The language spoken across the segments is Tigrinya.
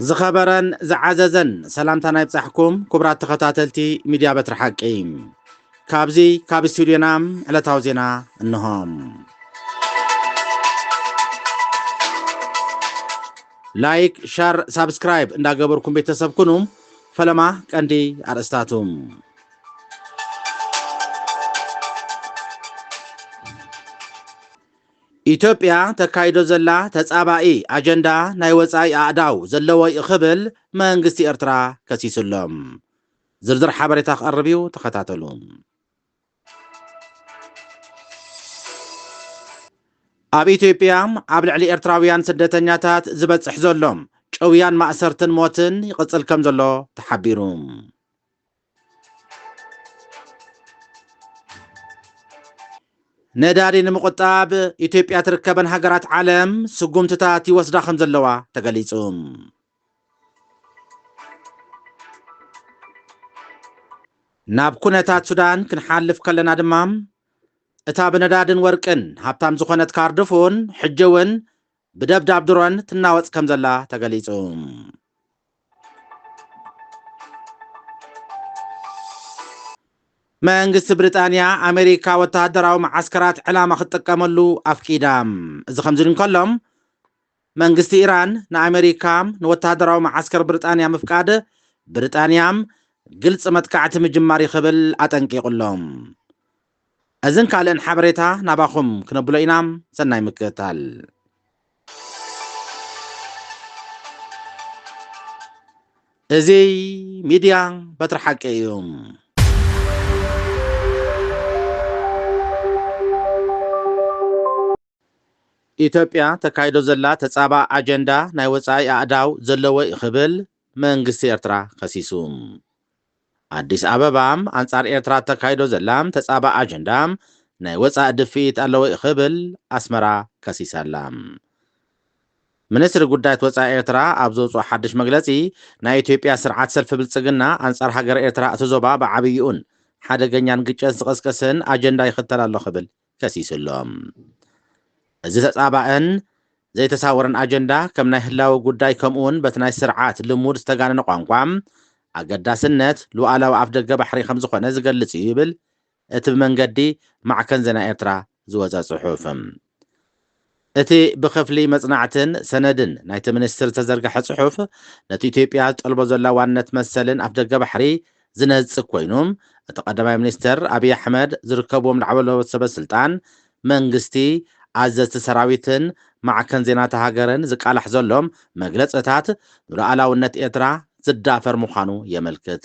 ዝኸበረን ዝዓዘዘን ሰላምታና ይብጻሕኩም ኩቡራት ተኸታተልቲ ሚድያ በትሪ ሓቂ ካብዚ ካብ ስቱድዮና ዕለታዊ ዜና እንሆ። ላይክ ሸር ሳብስክራይብ እንዳገበርኩም ቤተሰብ ኩኑ። ፈለማ ቀንዲ ኣርእስታቱ ኢትዮጵያ ተካይዶ ዘላ ተጻባኢ ኣጀንዳ ናይ ወጻኢ ኣእዳው ዘለዎ'ዩ ክብል መንግስቲ ኤርትራ ከሲሱ'ሎ። ዝርዝር ሓበሬታ ክቐርብ'ዩ ተኸታተሉ። ኣብ ኢትዮጵያ ኣብ ልዕሊ ኤርትራውያን ስደተኛታት ዝበጽሕ ዘሎ ጭውያን ማእሰርትን ሞትን ይቕጽል ከምዘሎ ተሓቢሩ። ነዳዲ ንምቑጣብ ኢትዮጵያ ትርከበን ሃገራት ዓለም ስጉምትታት ይወስዳ ከምዘለዋ ተገሊፁ። ናብ ኩነታት ሱዳን ክንሓልፍ ከለና ድማ እታ ብነዳድን ወርቅን ሃብታም ዝኾነት ካርድፉን ሕጂ እውን ብደብዳብ ድሮን ትናወጽ ከምዘላ ተገሊጹ። መንግስቲ ብሪጣንያ፣ ኣመሪካ ወተሃደራዊ መዓስከራት ዕላማ ክትጥቀመሉ ኣፍቂዳ። እዚ ከምዚ ኢሉ እንከሎ፣ መንግስቲ ኢራን ንኣመሪካ ንወተሃደራዊ መዓስከር ብሪጣንያ ምፍቃድ፣ ብሪጣንያ ግልጺ መጥቃዕቲ ምጅማር እዩ ክብል ኣጠንቂቑ ኣሎ። እዝን ካልእን ሓበሬታ ናባኹም ክነብሎ ኢና ሰናይ ምክእታል። እዙይ ሚድያ በትሪ ሓቂ እዩ። ኢትዮጵያ ተካይዶ ዘላ ተጻባ ኣጀንዳ ናይ ወጻኢ ኣእዳው ዘለዎ'ዩ ክብል መንግስቲ ኤርትራ ከሲሱ። ኣዲስ ኣበባ፣ ኣንጻር ኤርትራ እተካይዶ ዘላ ተጻባእ ኣጀንዳ ናይ ወጻኢ ድፍኢት ኣለዎ'ዩ ክብል ኣስመራ ከሲሳ'ላ። ሚኒስትሪ ጉዳያት ወጻኢ ኤርትራ ኣብ ዘውጽኦ ሓድሽ መግለጺ፣ ናይ ኢትዮጵያ ስርዓት ሰልፊ ብልጽግና ኣንጻር ሃገረ ኤርትራ እቲ ዞባ ብዓብይኡን ሓደገኛን ግጭት ዝቕስቅስን ኣጀንዳ ይኽተል ኣሎ ክብል ከሲሱ ኣሎ። እዚ ተጻባእን ዘይተሳወረን ኣጀንዳ ከም ናይ ህላወ ጉዳይ ከምኡውን በቲ ናይ ስርዓት ልሙድ ዝተጋነነ ቋንቋ፣ ኣገዳስነት ሉኣላዊ ኣፍደገ ባሕሪ ከም ዝኾነ ዝገልጽ እዩ ይብል እቲ ብመንገዲ ማዕከን ዜና ኤርትራ ዝወጸ ጽሑፍ። እቲ ብክፍሊ መጽናዕትን ሰነድን ናይቲ ሚኒስትሪ ዝተዘርግሐ ጽሑፍ፣ ነቲ ኢትዮጵያ ትጠልቦ ዘላ ዋንነት መሰልን ኣፍደገ ባሕሪ ዝነጽግ ኮይኑ፣ እቲ ቀዳማይ ሚኒስተር ኣብይ ኣሕመድ ዝርከብዎም ላዕለዎት ሰበ ስልጣን መንግስቲ፣ ኣዘዝቲ ሰራዊትን ማዕከን ዜና'ታ ሃገርን ዝቃላሕ ዘሎ መግለጽታት ንሉኣላውነት ኤርትራ ዝዳፈር ምዃኑ የመልክት።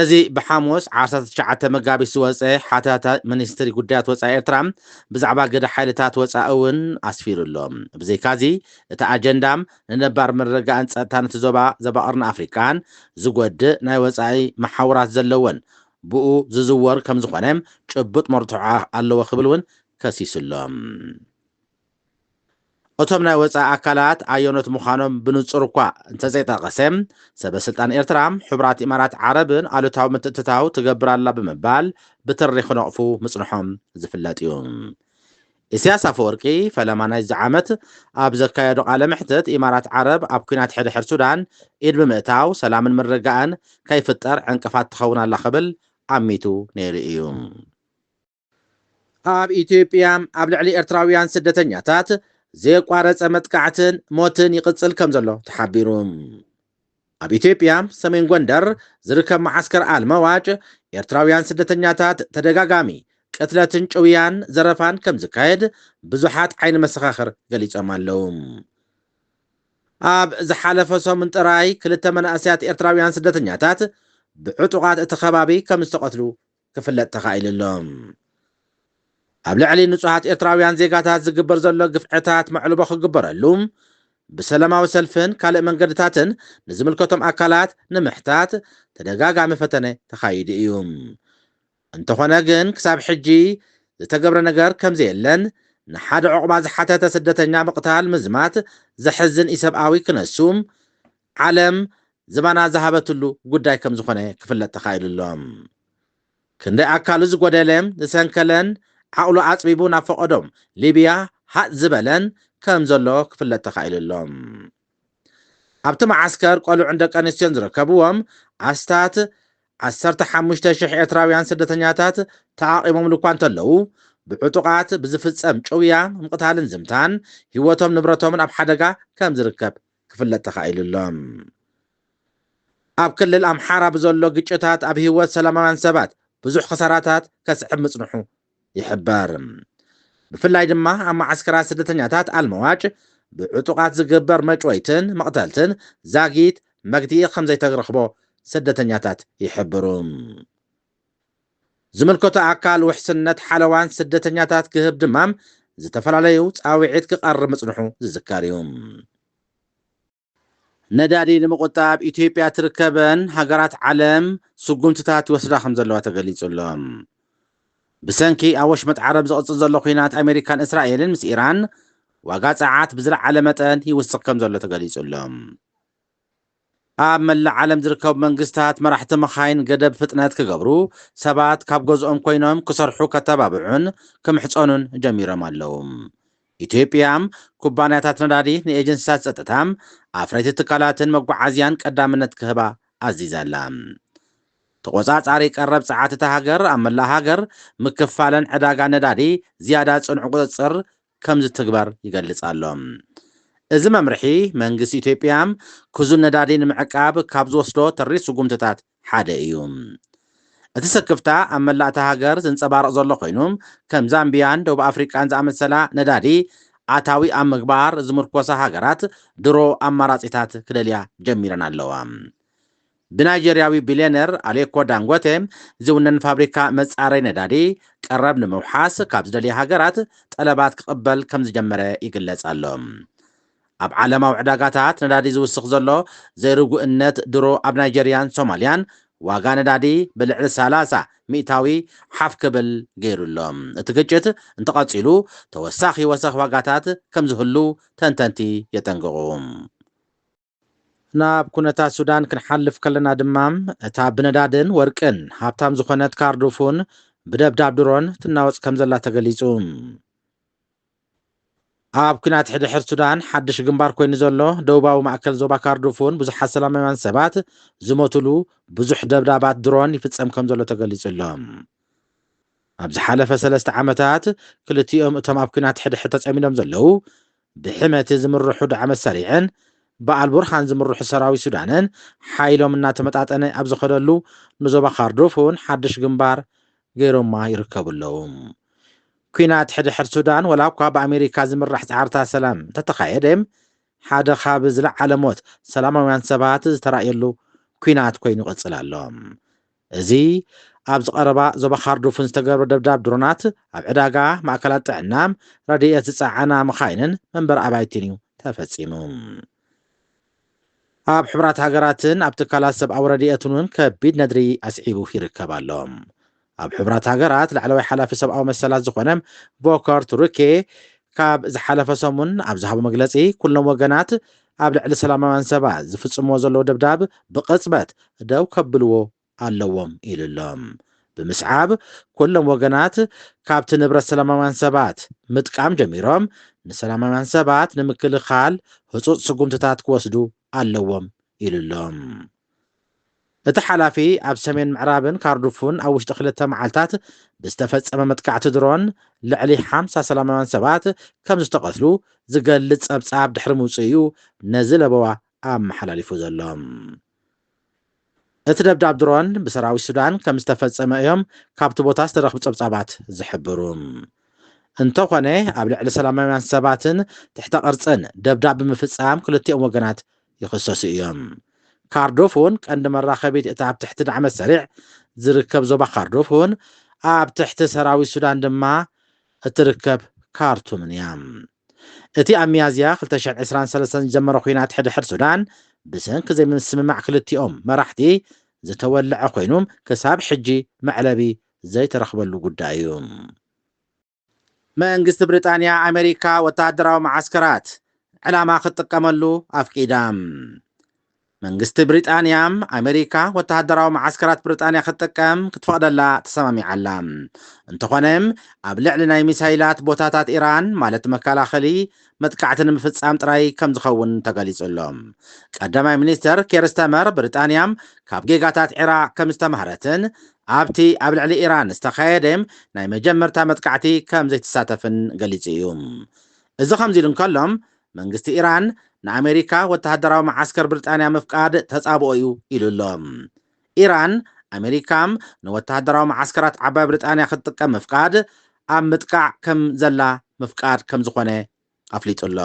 እዚ ብሓሙስ ዓሰርተ ትሽዓተ መጋቢት ዝወጸ ሓተታ ሚኒስትሪ ጉዳያት ወጻኢ ኤርትራ ብዛዕባ ግደ ሓይልታት ወጻኢ እውን ኣስፊሩ ኣሎ። ብዘይካዚ እቲ ኣጀንዳ ንነባር ምርግጋእን ጸጥታን እቲ ዞባ ዞባ ቀርኒ ኣፍሪቃን ዝጎድእ ናይ ወጻኢ መሓውራት ዘለዎን ብኡ ዝዝወር ከምዝኾነ ጭቡጥ መርትዖ ኣለዎ ክብል እውን ከሲሱ ኣሎ። እቶም ናይ ወጻኢ ኣካላት ኣየኖት ምዃኖም ብንጹር እኳ እንተዘይጠቐሰ፣ ሰበ ስልጣን ኤርትራ፣ ሕቡራት ኢማራት ዓረብን ኣሉታዊ ምትእትታው ትገብር ኣላ ብምባል ብትሪ ክነቕፉ ምጽንሖም ዝፍለጥ እዩ። ኢሲያስ ኣፈወርቂ ፈለማ ናይዚ ዓመት ኣብ ዘካየዶ ቃለ መሕትት፣ ኢማራት ዓረብ ኣብ ኲናት ሕድሕድ ሱዳን ኢድ ብምእታው ሰላምን ምርግጋእን ከይፍጠር ዕንቅፋት ትኸውን ኣላ ክብል ኣሚቱ ነይሩ እዩ። ኣብ ኢትዮጵያ ኣብ ልዕሊ ኤርትራውያን ስደተኛታት ዘየቋረጸ መጥቃዕትን ሞትን ይቕጽል ከምዘሎ ተሓቢሩ። ኣብ ኢትዮጵያ ሰሜን ጎንደር ዝርከብ መዓስከር ኣልመዋጭ ኤርትራውያን ስደተኛታት ተደጋጋሚ ቅትለትን ጭውያን ዘረፋን ከምዝካየድ ብዙሓት ዓይኒ መሰኻኽር ገሊጾም ኣለዉ። ኣብ ዝሓለፈ ሰሙን ጥራይ ክልተ መናእሰያት ኤርትራውያን ስደተኛታት ብዕጡቓት እቲ ከባቢ ከምዝተቐትሉ ክፍለጥ ተኻኢሉ ኣሎ። ኣብ ልዕሊ ንጹሃት ኤርትራውያን ዜጋታት ዝግበር ዘሎ ግፍዕታት መዕልቦ ክግበረሉ፣ ብሰለማዊ ሰልፍን ካልእ መንገድታትን ንዝምልከቶም ኣካላት ንምሕታት ተደጋጋሚ ፈተነ ተኻይዱ እዩ። እንተኾነ ግን ክሳብ ሕጂ ዝተገብረ ነገር ከምዘየለን ንሓደ ዑቕባ ዝሓተተ ስደተኛ ምቕታል ምዝማት ዘሕዝን ኢሰብኣዊ ክነሱ ዓለም ዝባና ዝሃበትሉ ጉዳይ ከም ዝኾነ ክፍለጥ ተኻኢሉ ኣሎ። ክንደይ ኣካሉ ዝጎደለ፣ ዝሰንከለን ዓቕሉ ኣጽቢቡ ናብ ፈቐዶ ሊብያ ሃጽ ዝበለን ከም ዘሎ ክፍለጥ ተኻኢሉ ኣሎ። ኣብቲ መዓስከር ቆልዑን ደቀንስትዮን ዝርከብዎም ኣስታት ዓሰርተ ሓሙሽተ ሽሕ ኤርትራውያን ስደተኛታት ተዓቚቦምሉ እኳ እንተለዉ፣ ብዕጡቓት ብዝፍጸም ጭውያ፣ ምቕታልን ዝምታን፣ ህይወቶም ንብረቶምን ኣብ ሓደጋ ከም ዝርከብ ክፍለጥ ተኻኢሉ ኣሎ። ኣብ ክልል ኣምሓራ ብዘሎ ግጭታት ኣብ ህይወት ሰላማውያን ሰባት ብዙሕ ክሳራታት ከስዕብ ምጽንሑ ይሕበር። ብፍላይ ድማ ኣብ መዓስከራት ስደተኛታት ኣልመዋጭ ብዕጡቓት ዝግበር መጭወይትን መቕተልትን ዛጊት መግትኢ ከምዘይተረኽቦ ስደተኛታት ይሕብሩ። ዝምልከቶ ኣካል ውሕስነት ሓለዋን ስደተኛታት ክህብ ድማ ዝተፈላለዩ ፃውዒት ክቐርብ ምፅንሑ ዝዝከር እዩ። ነዳዲ ንምቑጣብ ኢትዮጵያ ትርከበን ሃገራት ዓለም ስጉምትታት ይወስዳ ከምዘለዋ ተገሊፁ ኣሎ። ብሰንኪ ኣብ ወሽመጥ ዓረብ ዝቕፅል ዘሎ ኲናት ኣሜሪካን እስራኤልን ምስ ኢራን ዋጋ ፀዓት ብዝለዓለ መጠን ይውስኽ ከምዘሎ ተገሊፁ ኣሎ። ኣብ መላእ ዓለም ዝርከቡ መንግስታት መራሕቲ መኻይን ገደብ ፍጥነት ክገብሩ፣ ሰባት ካብ ገዝኦም ኮይኖም ክሰርሑ ከተባብዑን ክምሕጸኑን ጀሚሮም ኣለዉ። ኢትዮጵያ፣ ኩባንያታት ነዳዲ፣ ንኤጀንሲታት ጸጥታ፣ ኣፍረይቲ ትካላትን መጓዓዝያን ቀዳምነት ክህባ ኣዚዛ ኣላ። ተቖጻጻሪ ቀረብ ጸዓት እታ ሃገር ኣብ መላእ ሃገር ምክፋለን ዕዳጋ ነዳዲ ዝያዳ ጽኑዕ ቁጽጽር ከምዝትግበር ይገልጽ ኣሎ። እዚ መምርሒ መንግስቲ ኢትዮጵያ ክዙን ነዳዲ ንምዕቃብ ካብ ዝወስዶ ተሪር ስጉምትታት ሓደ እዩ። እቲ ስክፍታ ኣብ መላእ እታ ሃገር ዝንጸባረቕ ዘሎ ኮይኑ፣ ከም ዛምቢያን ደቡብ ኣፍሪቃን ዝኣመሰላ ነዳዲ ኣታዊ ኣብ ምግባር ዝምርኮሳ ሃገራት ድሮ ኣማራጺታት ክደልያ ጀሚረን ኣለዋ። ብናይጀርያዊ ቢልየነር ኣሌኮ ዳንጎቴ ዝውነን ፋብሪካ መጻረይ ነዳዲ፣ ቀረብ ንምውሓስ ካብ ዝደልያ ሃገራት ጠለባት ክቕበል ከም ዝጀመረ ይግለጽ ኣሎ። ኣብ ዓለማዊ ዕዳጋታት ነዳዲ ዝውስኽ ዘሎ ዘይርጉእነት ድሮ ኣብ ናይጀርያን ሶማልያን ዋጋ ነዳዲ ብልዕሊ ሰላሳ ሚእታዊ ሓፍ ክብል ገይሩ ኣሎ። እቲ ግጭት እንተቐጺሉ ተወሳኺ ወሰኽ ዋጋታት ከም ዝህሉ ተንተንቲ የጠንቅቑ። ናብ ኩነታት ሱዳን ክንሓልፍ ከለና ድማ እታ ብነዳድን ወርቅን ሃብታም ዝኾነት ካርዱፉን ብደብዳብ ድሮን ትናወጽ ከምዘላ ተገሊጹ። ኣብ ኩናት ሕድሕድ ሱዳን ሓድሽ ግንባር ኮይኑ ዘሎ ደቡባዊ ማእከል ዞባ ካርዱፉን ብዙሓት ሰላማውያን ሰባት ዝሞቱሉ ብዙሕ ደብዳባት ድሮን ይፍጸም ከምዘሎ ተገሊጹ ኣሎ። ኣብ ዝሓለፈ ሰለስተ ዓመታት ክልቲኦም እቶም ኣብ ኩናት ሕድሕድ ተጸሚዶም ዘለዉ ብሕመቲ ዝምርሑ ዳዕመ ሰሪዕን ብኣልቡርሃን ዝምርሑ ሰራዊት ሱዳንን ሓይሎም እናተመጣጠነ ኣብ ዝኸደሉ ንዞባ ካርዱፍ እውን ሓድሽ ግንባር ገይሮማ ይርከቡ ኣለዉ። ኲናት ሕድሕድ ሱዳን ወላ እኳ ብኣሜሪካ ዝምራሕ ፃዕርታት ሰላም እንተተኻየደ ሓደ ካብ ዝለዓለ ሞት ሰላማውያን ሰባት ዝተራእየሉ ኲናት ኮይኑ ይቕፅል ኣሎ። እዚ ኣብዚ ቀረባ ዞባ ካርዱፍን ዝተገብረ ደብዳብ ድሮናት ኣብ ዕዳጋ፣ ማእከላት ጥዕና፣ ረድኤት ዝጸዓና መኻይንን መንበሪ ኣባይቲን እዩ ተፈጺሙ። ኣብ ሕቡራት ሃገራትን ኣብ ትካላት ሰብኣዊ ረድኤትን እውን ከቢድ ነድሪ ኣስዒቡ ይርከብ ኣሎ። ኣብ ሕቡራት ሃገራት ላዕለዋይ ሓላፊ ሰብኣዊ መሰላት ዝዀነ ቮከር ቱርኬ ካብ ዝሓለፈ ሰሙን ኣብ ዝሃቦ መግለጺ፣ ኩሎም ወገናት ኣብ ልዕሊ ሰላማውያን ሰባት ዝፍጽምዎ ዘለዉ ደብዳብ ብቕጽበት ደው ከብልዎ ኣለዎም ኢሉ ኣሎ። ብምስዓብ ኩሎም ወገናት ካብቲ ንብረት ሰላማውያን ሰባት ምጥቃም ጀሚሮም ንሰላማውያን ሰባት ንምክልኻል ህጹጽ ስጉምትታት ክወስዱ ኣለዎም ኢሉ ኣሎ። እቲ ሓላፊ፣ ኣብ ሰሜን ምዕራብን ካርዱፉን ኣብ ውሽጢ ክልተ መዓልታት ብዝተፈጸመ መጥቃዕቲ ድሮን ልዕሊ ሓምሳ ሰላማውያን ሰባት ከምዝተቐትሉ ዝገልጽ ጸብጻብ ድሕሪ ምውጽኡ'ዩ ነዚ ለበዋ ኣመሓላሊፉ ዘሎ። እቲ ደብዳብ ድሮን ብሰራዊት ሱዳን ከምዝተፈጸመ እዮም ካብቲ ቦታ ዝተረኽቡ ጸብጻባት ዝሕብሩ። እንተኾነ ኣብ ልዕሊ ሰላማውያን ሰባትን ትሕተ ቅርጽን ደብዳብ ብምፍጻም ክልቲኦም ወገናት ይኽሰሱ እዮም። ካርዶፎን ቀንዲ መራኸቢት እታ ኣብ ትሕቲ ዳዕመ ሰሪዕ ዝርከብ ዞባ ካርዶፎን፣ ኣብ ትሕቲ ሰራዊት ሱዳን ድማ እትርከብ ካርቱምን እያ። እቲ ኣብ ሚያዝያ ክልተ ሽሕን ዕስራን ሰለስተን ዝጀመረ ኲናት ሕድሕድ ሱዳን፣ ብሰንኪ ዘይምስምማዕ ክልቲኦም መራሕቲ ዝተወልዐ ኮይኑ፣ ክሳብ ሕጂ መዕለቢ ዘይተረኽበሉ ጉዳይ እዩ። መንግስቲ ብሪጣንያ ኣመሪካ ወተሃደራዊ መዓስከራት ንዕላማ ክትጥቀመሉ ኣፍቂዳ። መንግስቲ ብሪጣንያ ኣመሪካ ወተሃደራዊ መዓስከራት ብሪጣንያ ክትጥቀም ክትፈቕደላ ተሰማሚዓ ኣላ። እንተኾነ ኣብ ልዕሊ ናይ ሚሳይላት ቦታታት ኢራን ማለት መከላኸሊ መጥቃዕቲ ንምፍፃም ጥራይ ከምዝኸውን ተገሊፁ ኣሎ። ቀዳማይ ሚኒስትር ኬር ስታመር ብሪጣንያ ካብ ጌጋታት ዒራቕ ከምዝተማህረትን ኣብቲ ኣብ ልዕሊ ኢራን ዝተኻየደ ናይ መጀመርታ መጥቃዕቲ ከምዘይትሳተፍን ገሊፁ እዩ። እዚ ከምዚ ኢሉ እንከሎ መንግስቲ ኢራን ንኣሜሪካ ወተሃደራዊ መዓስከር ብሪጣንያ ምፍቃድ ተፃብኦ እዩ ኢሉ ኣሎ። ኢራን፣ ኣመሪካ ንወተሃደራዊ መዓስከራት ዓባይ ብሪጣንያ ክትጥቀም ምፍቃድ፣ ኣብ ምጥቃዕ ከም ዘላ ምፍቃድ ከም ዝኾነ ኣፍሊጡ'ሎ።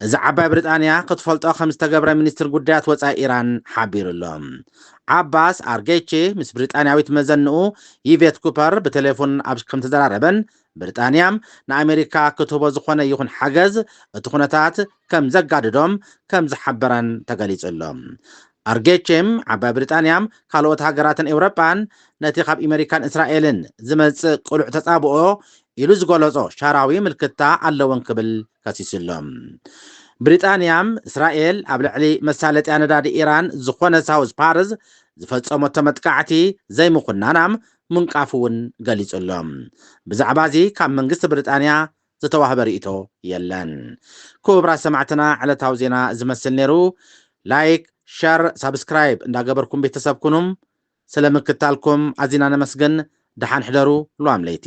እዚ ዓባይ ብሪጣንያ ክትፈልጦ ከም ዝተገብረ ሚኒስትሪ ጉዳያት ወጻኢ ኢራን ሓቢሩ'ሎ። ዓባስ ኣርጌቺ ምስ ብሪጣንያዊት መዘንኡ ይቬት ኩፐር ብቴሌፉን ኣብ ከም ዝተዘራረበን ብሪጣንያ ንኣመሪካ ክትህቦ ዝኾነ ይኹን ሓገዝ እቲ ኩነታት ከም ዘጋድዶም ከም ዝሓበረን ተገሊጹ ኣሎ። ኣርጌቼም ዓባይ ብሪጣንያ ካልኦት ሃገራትን ኤውሮጳን ነቲ ካብ ኢመሪካን እስራኤልን ዝመጽእ ቅሉዕ ተጻብኦ ኢሉ ዝገለጾ ሻራዊ ምልክታ ኣለወን ክብል ከሲሱ ኣሎ። ብሪጣንያ እስራኤል ኣብ ልዕሊ መሳለጥያ ነዳዲ ኢራን ዝኾነ ሳውዝ ፓርዝ ዝፈጸመቶ መጥቃዕቲ ዘይምኹናና ምንቃፉ'ውን ገሊጹ ኣሎ። ብዛዕባ'ዚ ካብ መንግስቲ ብሪጣንያ ዝተዋህበ ሪኢቶ የለን ኩቡራት ሰማዕትና ዕለታዊ ዜና እዚ መስል ነይሩ ላይክ ሸር ሳብስክራይብ እንዳገበርኩም ቤተሰብ ኩኑ ስለ ምክታልኩም ኣዚና ነመስግን ደሓን ሕደሩ ሉዋም ለይቲ